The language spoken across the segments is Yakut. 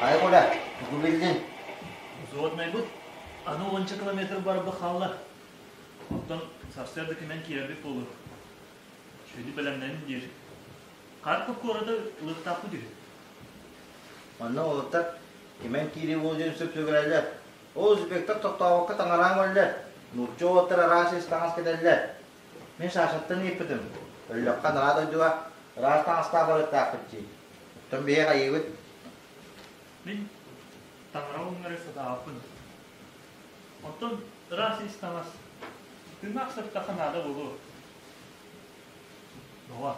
Ай, Куля, тугу биллин? Суот майбыт, аны уонча километр барбы хаалла. Оттон сарсыарда кимэн киирэрбит буолур. Шөйдү бэлэмнэнин диир. Карпов куората лыктааппыт үһү. Манна олуттар кимэн киирии болдин сөп сөбүрәлі. Ол үзбектэр тохтообокко таҥараан көрөллөр, нуучча уолаттар араас ис таҥас кэтэллэр. Мин Сашаттан ыыппытым. Өллөххө наҕаа дойдуга ыраас таҥастаах барыктаахпыт дии. Оттон биһиэхэ айыыбыт. Мин таҥара уҥнары сатаабыппын. Оттон ыраас ис таҥас тыыннаах сыртахха наада буолуо. Доҕор,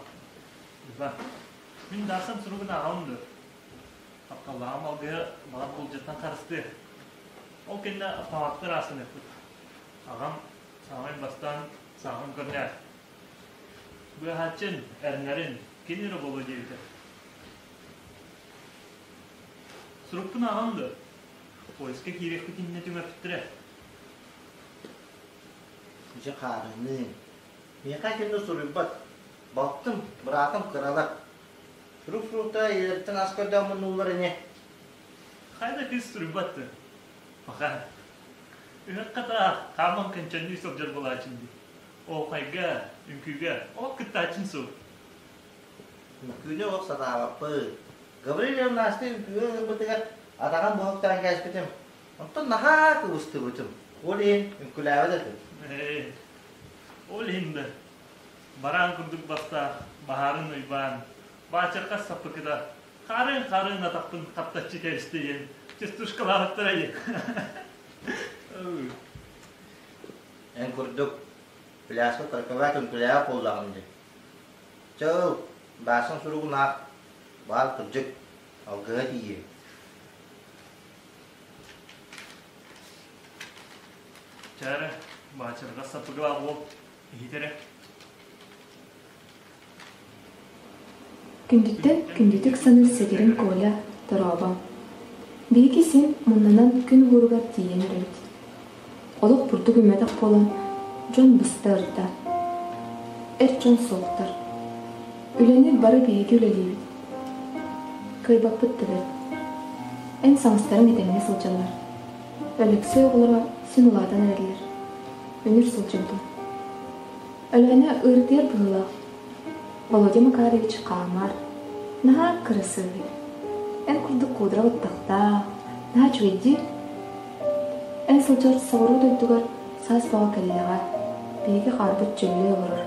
Люба, мин даасан суругун ааҕалым дуо? Тапталлааҕым алгыһа балар буулдьаттан харыстыа. Ол кэннэ палатка ыраас гыныахпыт. Аҕам саамай бастаан сааҕын көрнөөр. Быаһааччын, эрэнэрин кини эрэ буолуо диэбитэ. Сурукпун ааҕан да, поискка киириэхпит иннинэ түҥэппиттэрэ. Дьэ хаарыныы. Миэхэ кинини суруйбат. Балтым, быраатым кыралар. Сурук фрукта ийэлэриттэн ас көрдөөн муннуллар ини. Хайда кыыс суруйбаттын? Пока. Үһэххэ да хааман көнчөннүү сылдьар буолаачын дии. Оохайга, үҥкүүгэ ол кыттаачын суу. Үҥкүүнү ол санаабаппын. Гаврилия Настя үҥкүүгэ ыҥырбытыгар атаҕын буһуктаан кээспитим. Оттон наһаа кыбыстыбытым. Ол иһин үҥкүлээбэт этим. Ол иһин да Бараан курдук бастаан, баһаарын уйбаан, баачырҕас саппыкыта, хаарыан-хаарыан атахпын хаптаччы кэристэйэн, частушкалаабыттара ийэ. Эн курдук пляска карковатын күлэҕэ буоллаҕым дии. Чыл, баасан суругумаах, баал кырдьык, алгыһа тиийэ. Чээрэ, баачырҕас саппыкылаах уол иһитэрэ Күндүттэн күндүтүк саныыр сэтэрим Коля, дорообоҥ. Биһиги син муннанан күн уһууругар тиийэн эрэбит. Олох бурдук үмэтэх буолан, дьон быста ырда. Эр дьон суохтар. Үлэнир бары биһиги үлэлиибит. Кыайбаппыт да бэрт. Эн саҥастарыҥ этэҥҥэ сылдьаллар. Алексей оҕолоро син улаатан эрэллэр. Үнүр сылдьан тыл. Өлөөнө ыырытыйар быһыылаах. Володя Макарович хаамар, наһаа кырасыабый. Эн курдук куудра баттахтаах, наһаа үчүгэйдиир. Эн сылдьар соҕуруу дойдугар саас буола кэллэҕэ биһиги хаарбыт дьөллүү олорор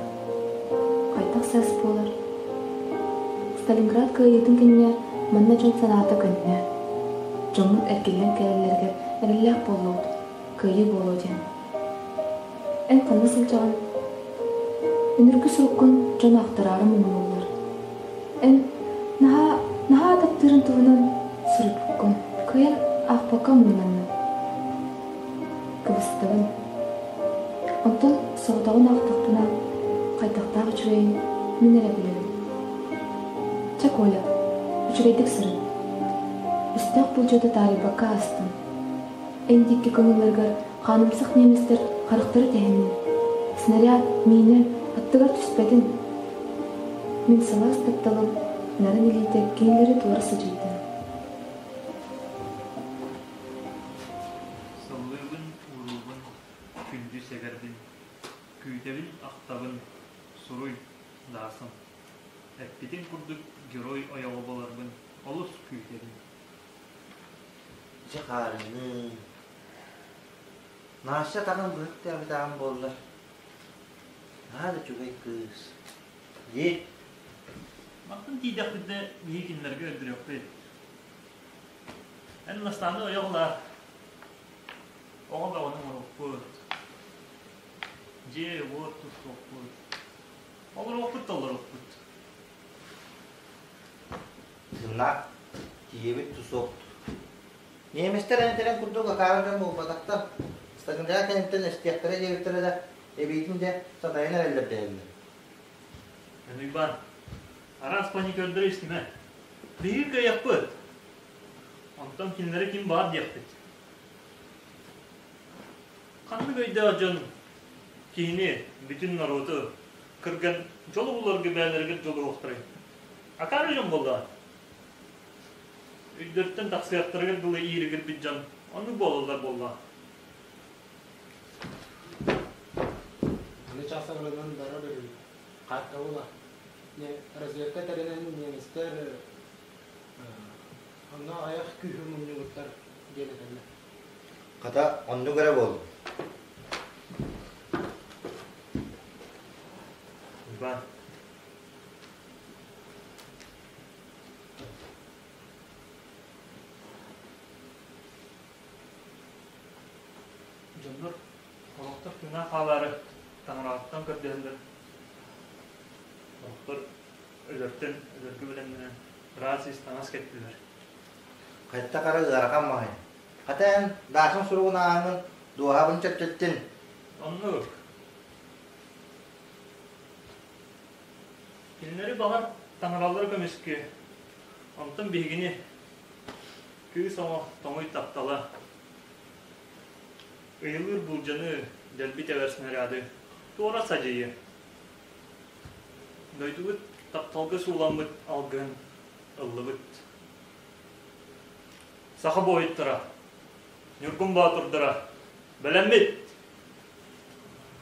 хайдах саас буолар сталинград кыайыытын кэннэ манна дьон санаата көннө дьоҥҥут эргиллэн кэлэллэригэр эрэллээх буоллубут кыайыы буолуо диэн эн ханна сылдьаҕын үнүргү суруккун дьон ахтараары муҥнууллар эн наһаа наһаа ататтыырын туһунан суруйбуккун кыайан аахпакка муҥнанна кыбыстыбын. Оттон соҕотоҕун аахтахпына, хайдахтаах үчүгэйин мин эрэ билэбин. Чэ, Коля, үчүгэйдик сырын. Үстээх буулдьаны таарыйбакка аастым. Эн диэки көҥүллэригэр хаанымсах ниэмэстэр харахтара тэһиннэ. Снаряд миинэ аттыгар түспэтин. Мин сылаас тапталым нарын илиитэ кинилэри туора садьыйда. Сыллыыбын, уруубун, күндү сэгэрбин, күүтэбин-ахтабын, суруй, даасым. Эппитим курдук герой ойоҕо буоларбын олус күүтэбин. Дьэ хаарыҥныы. Наша атаҕын быһыктаабыт аҕам буоллар. Наһаа да үчүгэй кыыс. Дии. Мантан тиийдэхпитинэ миигиннэргэ өлдөрүөхпүт. Эн Настааны ойоҕолоор, оҕо бөҕөнү оҥорукпут, дьиэ-уот туттукпут, олоруохпут толорукпут. Сынна, тиийэбит тусук. Немецтэр эндэрэн курдук акаара дьон буолбатахтар. Стагындара кэнниттэн эстиэхтэрэ диэбиттэрэ да, эбиитин дэ сатайан эрэллэр дэһэллэр. Эн Уйбаан, Араас паникердары истимэ. Биһиги кыайахпыт. Онтон кинилэри ким баар диэхпит. Ханнык өйдөөх дьон киһини, бүтүн норуоту кырган дьолу буларга бэйэлэригэр дьулуруохтарын? Акаары дьон буоллаҕа. Өйдөртөн тахсыахтарыгар дылы ииригирбит дьон оннук буолаллар буолла. Аны чахсан ырынан бара беребит. картабыла. Разведка тэринэн немецтэр онно аҕыйах күүһү мунньубуттар диэн этэллэр. Хата, оннук эрэ буолуо. Иван. Дьоннор Олохтор тыына хаалаары таҥараҕыттан көрдөһөллөр. Олохтор өлөртөн, өлөргө бэлэмнэнэн, ыраас ис таҥас кэттилэр. Хатта хара ыарахан маһы. Хата эн Даашын суругун ааһыҥын дуоһабын чөпчөттүн. Оннук. Кинилэри баҕар таҥаралары көмүскү, онтон биһигини кыыс оҥо тоҥуй таптала. ыйылыыр былдьаҥы, дэлби тэбэр снаряды, туора садьыйы. Дойдубут тапталга сууламмыт алгыһын ыллыбыт. Саха буойуттара, Ньургун Боотурдара, бэлэммит!